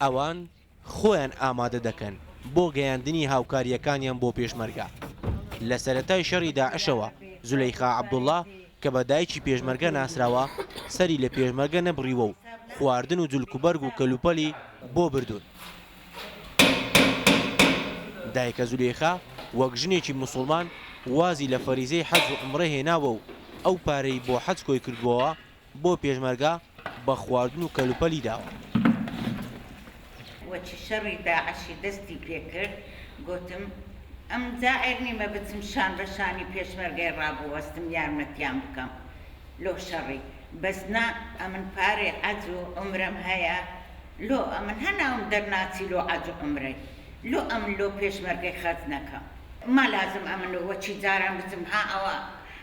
ئەوان خۆیان ئامادە دەکەن بۆ گەیاندنی هاوکارییەکانیان بۆ پێشمەرگە. لە سەرەتای شەڕی داعشەوە زولەیخا عەبدوڵا کە بە دایکی پێشمەرگە ناسراوە، سەری لە پێشمەرگە نەبڕیوە و خواردن و جلکوبەرگ و کەلوپەلی بۆ بردوون. دایکە زولەیخا وەک ژنێکی موسوڵمان وازی لە فەریزەی حەج و عومڕە هێناوە و ئەو پارەی بۆ حەج کۆیکردووەوە بۆ پێشمەرگە بە خواردن و کەلوپەلی داوە. وەچی شەڕی داعشی دەستی پێ کرد گۆتم ئەم جا عێر نیمە بچم شان بە شانی پێشمەرگەی ڕابوەستم یارمەتیان بکەم لۆ شەڕی بەس نا ئەمن پارەی عەج و عومرەم هەیە لۆ ئەمن هە ناوم دەر ناچی لۆ عەج و عومرەی لۆ ئەمن لۆ پێشمەرگەی خەرج نەکەم ما لازم ئەمن وەچی جاران بچم ها ئەوە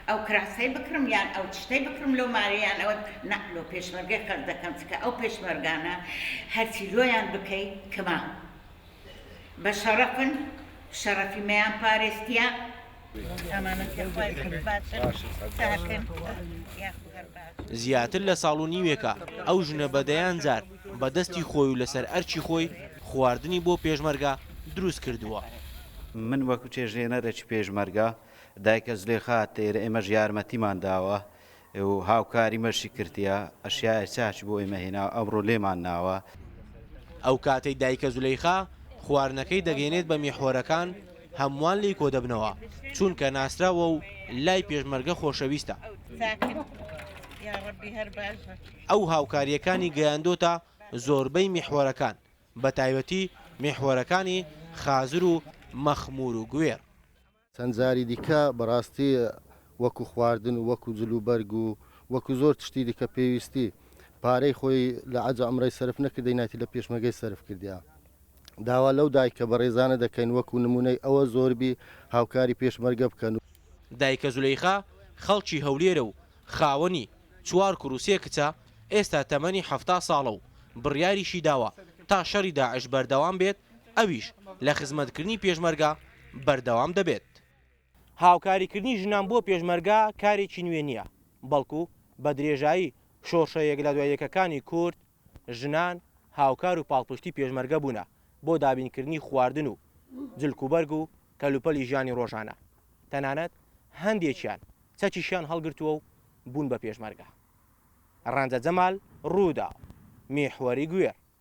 ئەو کراسەی بکڕم یان ئەو چشتەی بکڕم لەو مارە یان ئەوە نا لۆ پێشمەرگەی خەرج دەکەم چکە ئەو پێشمەرگانە هەرچی لۆیان بکەی کما بە شەڕەفن شەڕەفی مەیان پارێزتیە ئەمانەتیە خوای گەورە باشن زیاتر لە ساڵ و نیوێکە ئەو ژنە بە دەیان جار بە دەستی خۆی و لەسەر ئەرکی خۆی خواردنی بۆ پێشمەرگە دروست کردووە. من وەکو چێژلێنەرێکی پێشمەرگە دایکە زلێخا، تێرە ئێمەش یارمەتیمان داوە و هاوکاریمەشی کردیە، ئەشیائێ چاچ بۆ ئێمە هێناوە، ئەمڕۆ لێمان ناوە. ئەو کاتەی دایکە زولەیخا خواردنەکەی دەگەینێت بە میحوەرەکان، هەمووان لێی کۆدەبنەوە، چونکە ناسراوە و لای پێشمەرگە خۆشەویستە. ئەو هاوکارییەکانی گەیاندۆتە زۆربەی میحوەرەکان، بەتایبەتی میحوەرەکانی خازر و مەخمور و گوێڕ. چەند جاری دیکە بەڕاستی وەکو خواردن و وەکو جل و بەرگ و وەکو زۆر تشتی دیکە پێویستی پارەی خۆی لە عەج عەمرەی سەرف نەکردینایتی لە پێشمەگەی سەرف کردیا داوا لەو دایکە بەڕێزانە دەکەین وەکو نمونەی ئەوە زۆربی هاوکاری پێشمەرگە بکەن و. دایکە زولەیخا خەڵکی هەولێرە و خاوەنی چوار کور و سێ کچە، ئێستا تەمەنی حەفتا ساڵە و بڕیاریشی داوە تا شەڕی داعش بەردەوام بێت ئەویش لە خزمەتکردنی پێشمەرگە بەردەوام دەبێت. هاوکاریکردنی ژنان بۆ پێشمەرگە کارێکی نوێ نییە، بەڵکو بە درێژایی شۆڕشە یەک لە دوای یەکەکانی کورد، ژنان هاوکار و پاڵپشتی پێشمەرگە بوونە بۆ دابینکردنی خواردن و جلکوبەرگ و کەلوپەلی ژیانی ڕۆژانە، تەنانەت هەندێکیان چەکیشیان هەڵگرتووە و بوون بە پێشمەرگە. ڕەنجە جەمال، رووداو، میحوەری گوێر.